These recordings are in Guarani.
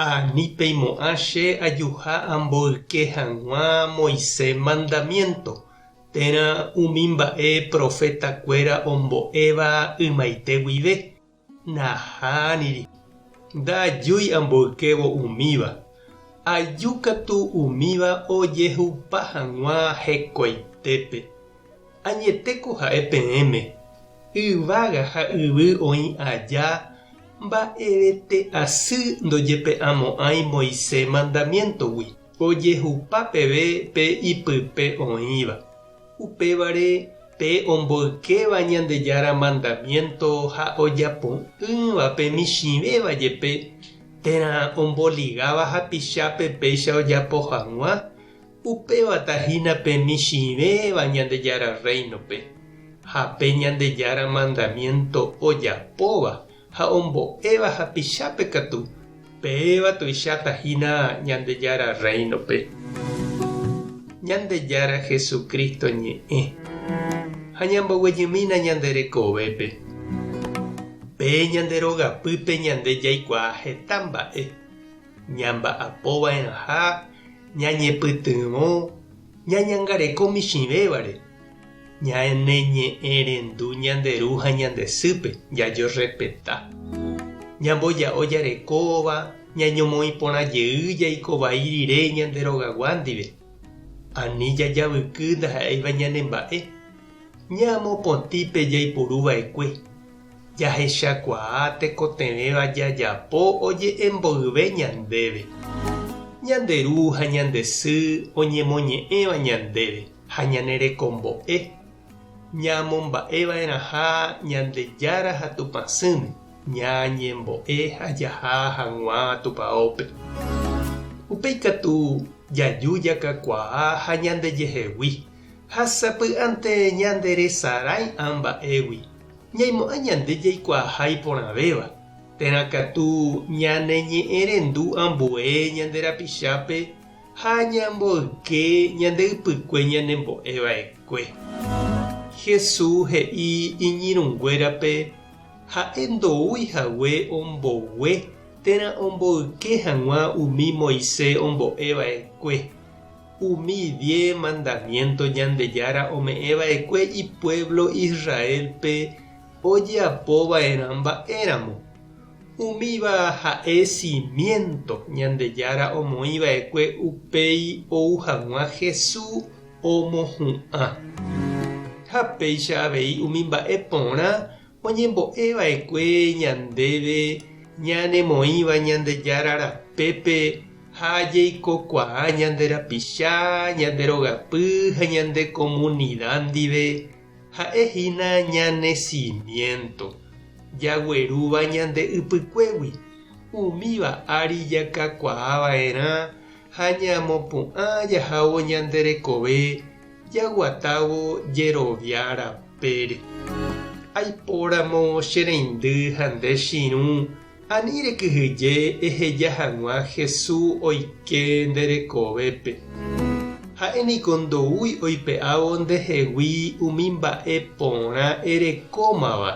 Ha ni peimo'ã che ajuha amboyke hag̃ua Moisés mandamiénto, térã umi mba'e profetakuéra ombo'éva ymaite guive, naha niri. Ndajúi amboykévo umíva, aju katu umíva ojehupa hag̃ua hekoitépe. Añetéko ha'e peẽme, yvága ha yvy oĩ aja, mba'evete asy ndojepe'amo'ãi Moisés mandamiéntogui, ojehupa peve pe ipype oĩva. Upévare pe omboykéva Ñandejára mandamiénto ha ojapo'ỹva pe michĩvéva jepe, térã omboligáva hapichápe péicha ojapo hag̃ua, Upéva tahína pe michĩvéva Ñandejára Rréinope ha pe Ñandejára mandamiénto ojapóva ha ombo'éva hapichápe katu, péva tuicháta hína Ñandejára Rréinope. Ñandejára Jesucristo ñe'ẽ ha ñamboguejymína ñande rekovépe. Pe ñande rogapýpe ñande jaikuaa heta mba'e. ñamba'apova'erãha ñañepytyvõ ñañangareko michĩvévare, ñaneñe'ẽrendu ñande ru ha ñande sýpe, jajerrespeta, ñamboja'o jarekóva, ñañomoĩ porã jey jaiko vai rire ñande rogagua ndive, ani jajavyky ndaha'éiva ñanemba'e. Ñamopotĩ pe jaipuru va'ekue, jahechakuaa tekotevẽva jajapo oje'e mboyve ñandéve. Ñande ru ha ñande sy oñemoñe'ẽva ñandéve ha ñane rekombo'e, ñamomba'eva'erãha Ñandejára ha Tupã sỹme, ñañembo'e ha jaha haguãva Tupaópe. Upe ikatu jaju jakakuaa ha ñandejehegui Ha sapy'ánte ñanderesarái amba'égui, ñaimo'ã ñande jaikuaaha iporãvéva, térã katu ñaneñe'ẽrendu ambue ñande rapichápe ha ñamboyke ñande ypykue ñanembo'e va'ekue. Jesús he'i iñirũnguérape ha'e ndoúi hague ombogue térã omboyke hag̃ua umi Moisés ombo'e va'ekue. Umi die mandamiénto Ñandejára ome'ẽ va'ekue ipuévlo Israélpe ojeapo va'erã mba'éramo. Umíva ha'e simiénto Ñandejára omoĩ va'ekue upéi ou hag̃ua Jesús omohu'ã. Ha péicha avei umi mba'e porã oñembo'e va'ekue ñandéve ñanemoĩva Ñandejára rapépe, ha ajeikokuaa ñande rapicha, ñande rogapy ha ñande komunida ndive, ha'e hína ñane simiénto, jaguerúva ñande ypykuégui, umíva ári jakakuaa va'erã ha ñamopu'ã jahávo ñande rekove jaguatávo jerovia rapére. Aipóramo che reindy ha nde chirũ, Ani rekyhyje eheja hag̃ua Hesu oike nde rekovépe. Ha'e niko ndoúi oipe'ávo nde hegui umi mba'e porã erekómava,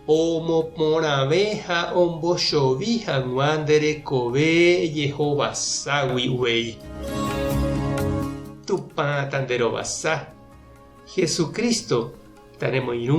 omoporãve ha ombochovi hag̃ua nde rekove ejehovaságui uvei. Tupã ta nde rovasa. Jesucristo ta nemoirũ.